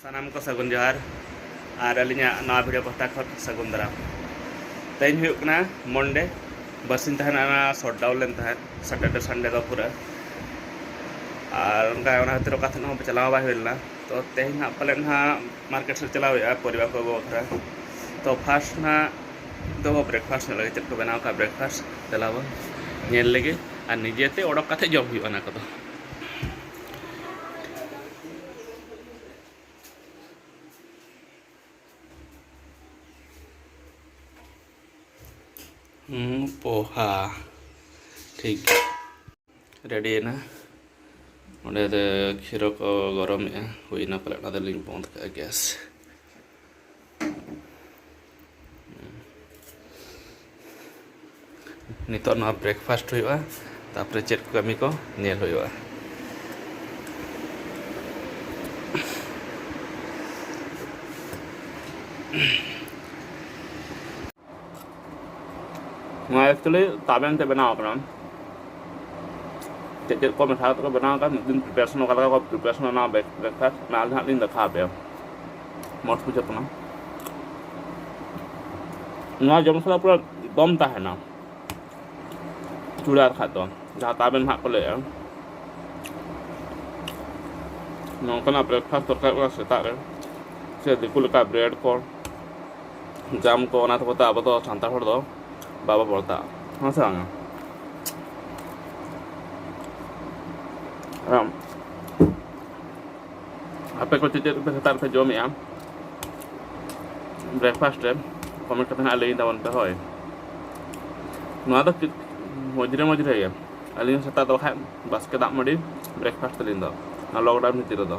ᱥᱟᱱᱟᱢ ᱠᱚ ᱥᱟᱹᱜᱩᱱ ᱡᱚᱦᱟᱨ ᱟᱨ ᱟᱹᱞᱤᱧᱟᱜ ᱱᱟᱣᱟ ᱵᱷᱤᱰᱤᱭᱳ ᱯᱟᱦᱴᱟ ᱠᱷᱚᱱ ᱥᱟᱹᱜᱩᱱ ᱫᱟᱨᱟᱢ ᱛᱮᱦᱮᱧ ᱦᱩᱭᱩᱜ ᱠᱟᱱᱟ ᱢᱚᱱᱰᱮ ᱵᱟᱨᱥᱤᱧ ᱛᱟᱦᱮᱱ ᱚᱱᱟ ᱥᱚᱴ ᱰᱟᱣᱩᱱ ᱞᱮᱱ ᱛᱟᱦᱮᱸᱫ ᱥᱟᱴᱟᱨᱰᱮ ᱥᱟᱱᱰᱮ ᱫᱚ ᱯᱩᱨᱟᱹ ᱟᱨ ᱚᱱᱠᱟ ᱚᱱᱟ ᱠᱷᱟᱹᱛᱤᱨ ᱚᱠᱟ ᱛᱮᱦᱚᱸ ᱪᱟᱞᱟᱣ ᱵᱟᱭ ᱦᱩᱭ ᱞᱮᱱᱟ ᱛᱚ ᱛᱮᱦᱮᱧ ᱦᱟᱸᱜ ᱯᱟᱞᱮᱱ ᱦᱟᱸᱜ ᱢᱟᱨᱠᱮᱴ ᱥᱮᱫ ᱪᱟᱞᱟᱣ ᱦᱩᱭᱩᱜᱼᱟ ᱯᱚᱨᱤᱵᱟᱨ ᱠᱚ ᱟᱹᱜᱩ ᱵᱟᱠᱷᱨᱟ ᱛᱚ ᱯᱷᱟᱥᱴ ᱦᱟᱸᱜ ᱫᱚ ᱵᱨᱮᱠᱯᱷᱟᱥᱴ ᱧᱚᱜ ᱞᱟᱹᱜᱤᱫ ᱪᱮᱫ ᱠᱚ ᱵᱮᱱᱟᱣ ᱠᱟᱜ ᱵᱨᱮᱠᱯᱷᱟᱥᱴ ᱪᱟᱞᱟᱣ ᱧᱮᱞ ᱞᱟᱹᱜᱤᱫ ᱟᱨ ᱱᱤᱡᱮᱛᱮ ᱚᱰᱚᱠ ᱠᱟᱛᱮᱫ ᱡᱚᱢ ᱦᱩᱭᱩᱜᱼᱟ ᱚᱱᱟ ᱠᱚᱫᱚ ᱯᱳᱦᱟ ᱴᱷᱤᱠ ᱜᱮᱭᱟ ᱨᱮᱰᱤᱭᱮᱱᱟ ᱚᱸᱰᱮ ᱫᱚ ᱠᱷᱤᱨᱚ ᱠᱚ ᱜᱚᱨᱚᱢᱮᱜᱼᱟ ᱦᱩᱭᱱᱟ ᱯᱟᱞᱮ ᱚᱱᱟ ᱫᱚᱞᱤᱧ ᱵᱚᱱᱫᱽ ᱠᱟᱜᱼᱟ ᱜᱮᱥ ᱱᱤᱛᱚᱜ ᱱᱚᱣᱟ ᱵᱨᱮᱠᱯᱷᱟᱥᱴ ᱦᱩᱭᱩᱜᱼᱟ ᱛᱟᱯᱚᱨᱮ ᱪᱮᱫ ᱠᱚ ᱠᱟᱹᱢᱤ ᱠᱚ ᱧᱮᱞ ᱦᱩᱭᱩᱜᱼᱟ Mm-hmm. ᱱᱚᱣᱟ ᱮᱠᱪᱩᱭᱮᱞᱤ ᱛᱟᱵᱮᱱ ᱛᱮ ᱵᱮᱱᱟᱣ ᱟᱠᱟᱱᱟ ᱪᱮᱫ ᱪᱮᱫ ᱠᱚ ᱢᱮᱥᱟ ᱠᱟᱛᱮ ᱠᱚ ᱵᱮᱱᱟᱣ ᱟᱠᱟᱫ ᱢᱤᱫ ᱫᱤᱱ ᱯᱨᱤᱯᱟᱨᱮᱥᱚᱱ ᱚᱠᱟ ᱞᱮᱠᱟ ᱠᱚ ᱯᱨᱤᱯᱟᱨᱮᱥᱚᱱ ᱚᱱᱟ ᱵᱨᱮᱠᱯᱷᱟᱥᱴ ᱚᱱᱟ ᱟᱞᱮ ᱦᱟᱸᱜ ᱞᱤᱧ ᱫᱮᱠᱷᱟᱣ ᱟᱯᱮᱭᱟ ᱢᱚᱡᱽ ᱵᱩᱡᱷᱟᱹᱜ ᱠᱟᱱᱟ ᱱᱚᱣᱟ ᱡᱚᱢ ᱥᱟᱞᱟᱜ ᱯᱩᱨᱟᱹ ᱫᱚᱢ ᱛᱟᱦᱮᱱᱟ ᱪᱩᱲᱟ ᱠᱷᱟᱡ ᱫᱚ ᱡᱟᱦᱟᱸ ᱛᱟᱵᱮᱱ ᱦᱟᱸᱜ ᱠᱚ ᱞᱟᱹᱭᱮᱫᱼᱟ ᱱᱚᱝᱠᱟᱱᱟᱜ ᱵᱨᱮᱠᱯᱷᱟᱥᱴ ᱫᱚᱨᱠᱟᱨ ᱠᱟᱱᱟ ᱥᱮᱛᱟᱜ ᱨᱮ ᱥᱮ ᱫᱤᱠᱩ ᱞᱮᱠᱟ ᱵᱨᱮᱰ ᱠᱚ ᱡᱟᱢ ᱠᱚ ᱚᱱᱟ ᱛᱮᱠᱚ ᱛᱮ ᱟᱵᱚ ᱫᱚ ᱥᱟᱱᱛᱟᱲ ᱦᱚᱲ ᱫᱚ ᱵᱟᱵᱚ ᱵᱚᱲᱛᱟ ᱦᱮᱸ ᱥᱮ ᱵᱟᱝᱟ ᱟᱯᱮ ᱠᱚ ᱪᱮᱫ ᱪᱮᱫ ᱯᱮ ᱥᱮᱛᱟᱜ ᱨᱮᱯᱮ ᱡᱚᱢᱮᱜᱼᱟ ᱵᱨᱮᱠᱯᱷᱟᱥᱴ ᱨᱮ ᱠᱚᱢᱮᱱᱴ ᱠᱟᱛᱮ ᱦᱟᱸᱜ ᱞᱟᱹᱭ ᱛᱟᱵᱚᱱ ᱯᱮ ᱦᱳᱭ ᱱᱚᱣᱟ ᱫᱚ ᱢᱚᱡᱽᱨᱮ ᱢᱚᱡᱽᱨᱮ ᱜᱮ ᱟᱹᱞᱤᱧ ᱥᱮᱛᱟᱜ ᱫᱚ ᱵᱟᱠᱷᱟᱡ ᱵᱟᱥᱠᱮ ᱫᱟᱜ ᱢᱟᱹᱰᱤ ᱵᱨᱮᱠᱯᱷᱟᱥᱴ ᱛᱟᱹᱞᱤᱧ ᱫᱚ ᱞᱚᱠᱰᱟᱣᱩᱱ ᱵᱷᱤᱛᱤᱨ ᱨᱮᱫᱚ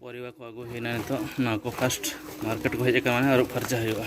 ᱯᱚᱨᱤᱵᱟ ᱠᱚ ᱟᱹᱜᱩ ᱦᱩᱭᱱᱟ ᱱᱤᱛᱚᱜ ᱱᱚᱣᱟ ᱠᱚ ᱯᱷᱟᱥᱴ ᱢᱟᱨᱠᱮᱴ ᱠᱚ ᱦᱮᱡ ᱟᱠᱟᱱᱟ ᱟᱹᱨᱩᱵ ᱯᱷᱟᱨᱪᱟ ᱦᱩᱭᱩᱜᱼᱟ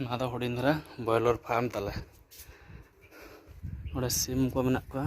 ᱱᱚᱣᱟ ᱫᱚ ᱦᱩᱰᱤᱧ ᱫᱷᱟᱨᱟ ᱵᱚᱭᱞᱚᱨ ᱯᱷᱟᱨᱢ ᱛᱟᱞᱮ ᱱᱚᱰᱮ ᱥᱤᱢ ᱠᱚ ᱢᱮᱱᱟᱜ ᱠᱚᱣᱟ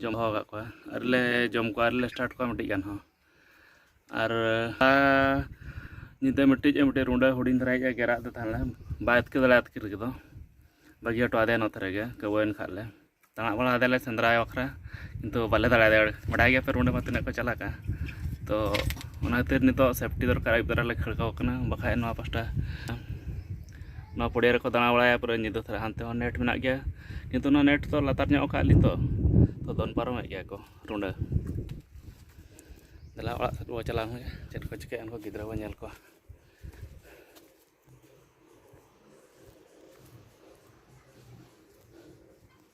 ᱡᱚᱢ ᱦᱚᱸ ᱟᱠᱟᱫ ᱠᱚᱣᱟ ᱟᱹᱣᱨᱤ ᱞᱮ ᱡᱚᱢ ᱠᱚᱣᱟ ᱟᱹᱣᱨᱤ ᱞᱮ ᱥᱴᱟᱨᱴ ᱠᱚᱣᱟ ᱢᱤᱫᱴᱤᱡ ᱜᱟᱱ ᱦᱚᱸ ᱟᱨ ᱧᱤᱫᱟᱹ ᱢᱤᱫᱴᱤᱡ ᱢᱤᱫᱴᱤᱡ ᱨᱩᱸᱰᱟᱹ ᱦᱩᱰᱤᱧ ᱫᱷᱟᱨᱟᱭᱤᱡ ᱮ ᱜᱮᱨᱟᱜ ᱫᱚ ᱛᱟᱦᱮᱸ ᱞᱮᱱᱟ ᱵᱟᱭ ᱟᱛᱠᱤᱨ ᱫᱟᱲᱮ ᱟᱛᱠᱤᱨ ᱠᱮᱫᱚ ᱵᱟᱹᱜᱤ ᱦᱚᱴᱚ ᱟᱫᱮᱭᱟ ᱱᱚᱛᱮ ᱨᱮᱜᱮ ᱠᱟᱹᱣᱟᱹᱭᱮᱱ ᱠᱷᱟᱡ ᱞᱮ ᱛᱟᱬᱟᱜ ᱵᱟᱲᱟ ᱟᱫᱮᱞᱮ ᱥᱮᱸᱫᱽᱨᱟ ᱵᱟᱠᱷᱨᱟ ᱠᱤᱱᱛᱩ ᱵᱟᱞᱮ ᱫᱟᱲᱮ ᱟᱫᱮᱭᱟ ᱵᱟᱰᱟᱭ ᱜᱮᱭᱟᱯᱮ ᱨᱩᱸᱰᱟᱹ ᱢᱟ ᱛᱤᱱᱟᱹᱜ ᱠᱚ ᱪᱟᱞᱟᱠᱟ ᱛᱚ ᱚᱱᱟ ᱠᱷᱟᱹᱛᱤᱨ ᱱᱤᱛᱚᱜ ᱥᱮᱯᱴᱤ ᱫᱚᱨᱠᱟᱨ ᱟᱹᱭᱩᱵ ᱵᱮᱲᱟ ᱞᱮ ᱠᱷᱟᱹᱲ ᱠᱟᱠᱚ ᱠᱟᱱᱟ ᱵᱟᱠᱷᱟᱡ ᱱᱚᱣᱟ ᱯᱟᱥᱴᱟ ᱱᱚᱣᱟ ᱯᱚᱲᱤᱭᱟ ᱨᱮᱠᱚ ᱫᱟᱬᱟ ᱵᱟᱲᱟᱭᱟ ᱯᱩᱨᱟᱹ ᱧᱤᱫᱟᱹ ᱫᱷᱟᱨᱟ ᱦᱟᱱᱛᱮ ᱦᱚᱸ ᱱᱮᱴ ᱢᱮᱱᱟᱜ ᱜᱮᱭᱟ ᱠᱤᱱᱛᱩ ᱚᱱᱟ ᱱᱮᱴ ᱫᱚ ᱞᱟᱛᱟᱨ ᱧᱚᱜ ᱟᱠᱟᱫ ᱟᱹᱞᱤᱧ ᱛᱚ ᱛᱚ ᱫᱚᱱ ᱯᱟᱨᱚᱢᱮᱫ ᱜᱮᱭᱟ ᱠᱚ ᱨᱩᱸᱰᱟᱹ ᱫᱮᱞᱟ ᱚᱲᱟᱜ ᱥᱮᱫ ᱵᱚᱱ ᱪᱟᱞᱟᱣ ᱦᱩᱭᱩᱜᱼᱟ ᱪᱮᱫ ᱠᱚ ᱪᱤᱠᱟᱹᱭᱟ ᱩᱱᱠᱩ ᱜᱤᱫᱽᱨᱟᱹ ᱵᱚᱱ ᱧᱮᱞ ᱠᱚᱣᱟ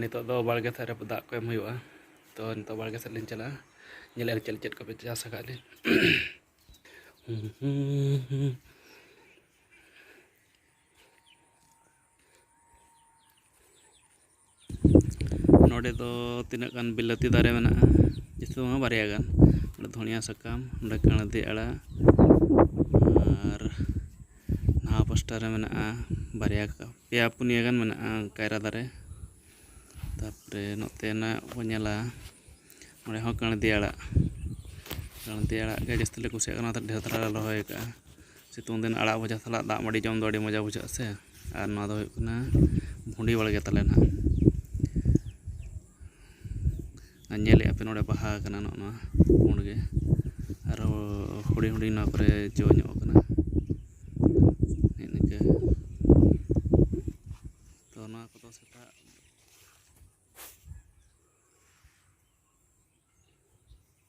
ᱱᱤᱛᱚᱜ ᱫᱚ ᱵᱟᱲᱜᱮ ᱥᱮᱫ ᱨᱮ ᱫᱟᱜ ᱠᱚ ᱮᱢ ᱦᱩᱭᱩᱜᱼᱟ ᱛᱚ ᱱᱤᱛᱚᱜ ᱵᱟᱲᱜᱮ ᱥᱮᱫ ᱞᱤᱧ ᱪᱟᱞᱟᱜᱼᱟ ᱧᱮᱞᱮᱫ ᱪᱮᱫ ᱪᱮᱫ ᱠᱚᱯᱮ ᱪᱟᱥ ᱟᱠᱟᱫ ᱞᱤᱧ ᱱᱚᱰᱮ ᱫᱚ ᱛᱤᱱᱟᱹᱜ ᱜᱟᱱ ᱵᱤᱞᱟᱹᱛᱤ ᱫᱟᱨᱮ ᱢᱮᱱᱟᱜᱼᱟ ᱡᱟᱹᱥᱛᱤ ᱫᱚ ᱵᱟᱝ ᱵᱟᱨᱭᱟ ᱜᱟᱱ ᱱᱚᱰᱮ ᱫᱷᱚᱱᱤᱭᱟᱹ ᱥᱟᱠᱟᱢ ᱱᱚᱰᱮ ᱠᱟᱬᱫᱤ ᱟᱲᱟᱜ ᱱᱟᱣᱟ ᱯᱟᱥᱴᱟ ᱨᱮ ᱢᱮᱱᱟᱜᱼᱟ ᱵᱟᱨᱭᱟ ᱯᱮᱭᱟ ᱯᱩᱱᱭᱟᱹ ᱜᱟᱱ ᱢᱮᱱᱟᱜᱼᱟ ᱠᱟᱭᱨᱟ ᱫᱟᱨᱮ ᱛᱟᱨᱯᱚᱨᱮ ᱱᱚᱛᱮᱱᱟᱜ ᱵᱚᱱ ᱧᱮᱞᱟ ᱚᱸᱰᱮ ᱦᱚᱸ ᱠᱟᱬᱫᱤ ᱟᱲᱟᱜ ᱠᱟᱬᱫᱤ ᱟᱲᱟᱜ ᱜᱮ ᱡᱟᱹᱥᱛᱤ ᱞᱮ ᱠᱩᱥᱤᱭᱟᱜ ᱠᱟᱱᱟ ᱚᱱᱟᱛᱮ ᱰᱷᱮᱨ ᱫᱷᱟᱨᱟ ᱞᱮ ᱨᱚᱦᱚᱭ ᱠᱟᱜᱼᱟ ᱥᱤᱛᱩᱝ ᱫᱤᱱ ᱟᱲᱟᱜ ᱵᱷᱟᱡᱟ ᱥᱟᱞᱟᱜ ᱫᱟᱜ ᱢᱟᱹᱰᱤ ᱡᱚᱢ ᱫᱚ ᱟᱹᱰᱤ ᱢᱚᱡᱟ ᱵᱩᱡᱷᱟᱹᱜ ᱟᱥᱮ ᱟᱨ ᱱᱚᱣᱟ ᱫᱚ ᱦᱩᱭᱩᱜ ᱠᱟᱱᱟ ᱵᱷᱩᱰᱤ ᱵᱟᱲᱜᱮ ᱛᱟᱞᱮ ᱱᱟᱦᱟᱜ ᱟᱨ ᱧᱮᱞᱮᱫᱼᱟ ᱯᱮ ᱱᱚᱸᱰᱮ ᱵᱟᱦᱟ ᱠᱟᱱᱟ ᱱᱚᱜᱼᱚ ᱱᱚᱣᱟ ᱯᱩᱸᱰ ᱜᱮ ᱟᱨᱦᱚᱸ ᱦᱩᱰᱤᱧ ᱦᱩᱰᱤᱧ ᱱᱚᱣᱟ ᱠᱚᱨᱮ ᱡᱚ ᱧᱚᱜ ᱠᱟᱱᱟ ᱱᱮᱜᱼᱮ ᱱᱤᱝᱠᱟᱹ ᱛᱚ ᱱᱚᱣᱟ ᱠᱚᱫᱚ ᱥᱮᱛᱟᱜ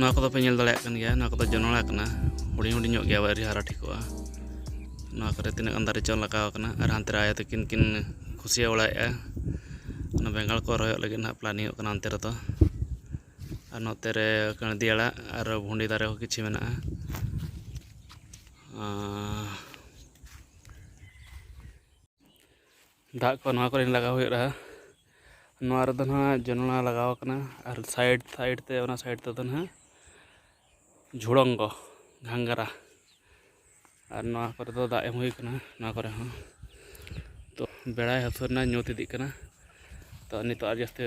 ᱱᱚᱣᱟ ᱠᱚᱫᱚ ᱯᱮ ᱧᱮᱞ ᱫᱟᱲᱮᱭᱟᱜ ᱠᱟᱱ ᱜᱮᱭᱟ ᱱᱚᱣᱟ ᱠᱚᱫᱚ ᱡᱚᱱᱚᱲᱟ ᱠᱟᱱᱟ ᱦᱩᱰᱤᱧ ᱦᱩᱰᱤᱧ ᱧᱚᱜ ᱜᱮᱭᱟ ᱟᱹᱣᱨᱤ ᱦᱟᱨᱟ ᱴᱷᱤᱠᱚᱜᱼᱟ ᱱᱚᱣᱟ ᱠᱚᱨᱮ ᱛᱤᱱᱟᱹᱜ ᱜᱟᱱ ᱫᱟᱨᱮ ᱪᱚᱝ ᱞᱟᱜᱟᱣ ᱠᱟᱱᱟ ᱟᱨ ᱦᱟᱱᱛᱮ ᱨᱮ ᱟᱭᱳ ᱛᱟᱹᱠᱤᱱ ᱠᱤᱱ ᱠᱷᱩᱥᱭᱟᱹ ᱵᱟᱲᱟᱭᱮᱫᱼᱟ ᱚᱱᱟ ᱵᱮᱸᱜᱟᱲ ᱠᱚ ᱨᱚᱦᱚᱭᱚᱜ ᱞᱟᱹᱜᱤᱫ ᱦᱟᱸᱜ ᱯᱞᱮᱱᱤᱝ ᱚᱜ ᱠᱟᱱᱟ ᱚᱱᱛᱮ ᱨᱮᱫᱚ ᱟᱨ ᱱᱚᱛᱮ ᱨᱮ ᱠᱟᱬᱫᱤ ᱟᱲᱟᱜ ᱟᱨ ᱵᱷᱩᱸᱰᱤ ᱫᱟᱨᱮ ᱦᱚᱸ ᱠᱤᱪᱷᱩ ᱢᱮᱱᱟᱜᱼᱟ ᱫᱟᱜ ᱠᱚ ᱱᱚᱣᱟ ᱠᱚᱨᱮ ᱞᱟᱜᱟᱣ ᱦᱩᱭᱩᱜᱼᱟ ᱱᱚᱣᱟ ᱨᱮᱫᱚ ᱱᱟᱦᱟᱜ ᱡᱚᱱᱚᱲᱟ ᱞᱟᱜᱟᱣ ᱠᱟᱱᱟ ᱟᱨ ᱥᱟᱭᱤᱰ ᱥᱟᱭᱤᱰ ᱛᱮ ᱚᱱᱟ ᱥᱟᱭᱤᱰ ᱛᱮᱫᱚ ᱱᱟᱦᱟᱜ ᱡᱷᱩᱲᱚᱝᱜᱚ ᱜᱷᱟᱝᱜᱽᱨᱟ ᱟᱨ ᱱᱚᱣᱟ ᱠᱚᱨᱮ ᱫᱚ ᱫᱟᱜ ᱮᱢ ᱦᱩᱭ ᱠᱟᱱᱟ ᱱᱚᱣᱟ ᱠᱚᱨᱮ ᱦᱚᱸ ᱛᱚ ᱵᱮᱲᱟᱭ ᱦᱟᱹᱥᱩᱨᱱᱟ ᱧᱩᱛ ᱤᱫᱤᱜ ᱠᱟᱱᱟ ᱛᱚ ᱱᱤᱛᱚᱜ ᱟᱨ ᱡᱟᱹᱥᱛᱤ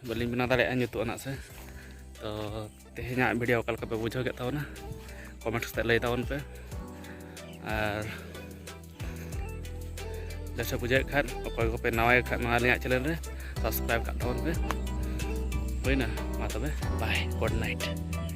ᱵᱟᱹᱞᱤᱧ ᱵᱮᱱᱟᱣ ᱫᱟᱲᱮᱭᱟᱜᱼᱟ ᱧᱩᱛᱩᱜᱼᱟ ᱱᱟᱜ ᱥᱮ ᱛᱚ ᱛᱮᱦᱮᱧᱟᱜ ᱵᱷᱤᱰᱤᱭᱳ ᱚᱠᱟ ᱞᱮᱠᱟ ᱯᱮ ᱵᱩᱡᱷᱟᱹᱣ ᱠᱮᱫ ᱛᱟᱵᱚᱱᱟ ᱠᱚᱢᱮᱱᱴ ᱠᱟᱛᱮ ᱞᱟᱹᱭ ᱛᱟᱵᱚᱱ ᱯᱮ ᱟᱨ ᱵᱮᱥ ᱵᱩᱡᱷᱟᱹᱣᱮᱫ ᱠᱷᱟᱱ ᱚᱠᱚᱭ ᱠᱚᱯᱮ ᱱᱟᱣᱟᱭ ᱠᱷᱟᱱ ᱱᱚᱣᱟ ᱟᱹᱞᱤᱧᱟᱜ ᱪᱮᱱᱮᱞ ᱨᱮ ᱥᱟᱵᱥᱠᱨᱟᱭᱤᱵ ᱠᱟᱜ ᱛᱟᱵᱚᱱ ᱯᱮ ᱦᱩᱭᱱᱟ ᱢᱟ ᱛᱚᱵᱮ ᱵᱟᱭ ᱜᱩᱰ ᱱᱟᱭᱤᱴ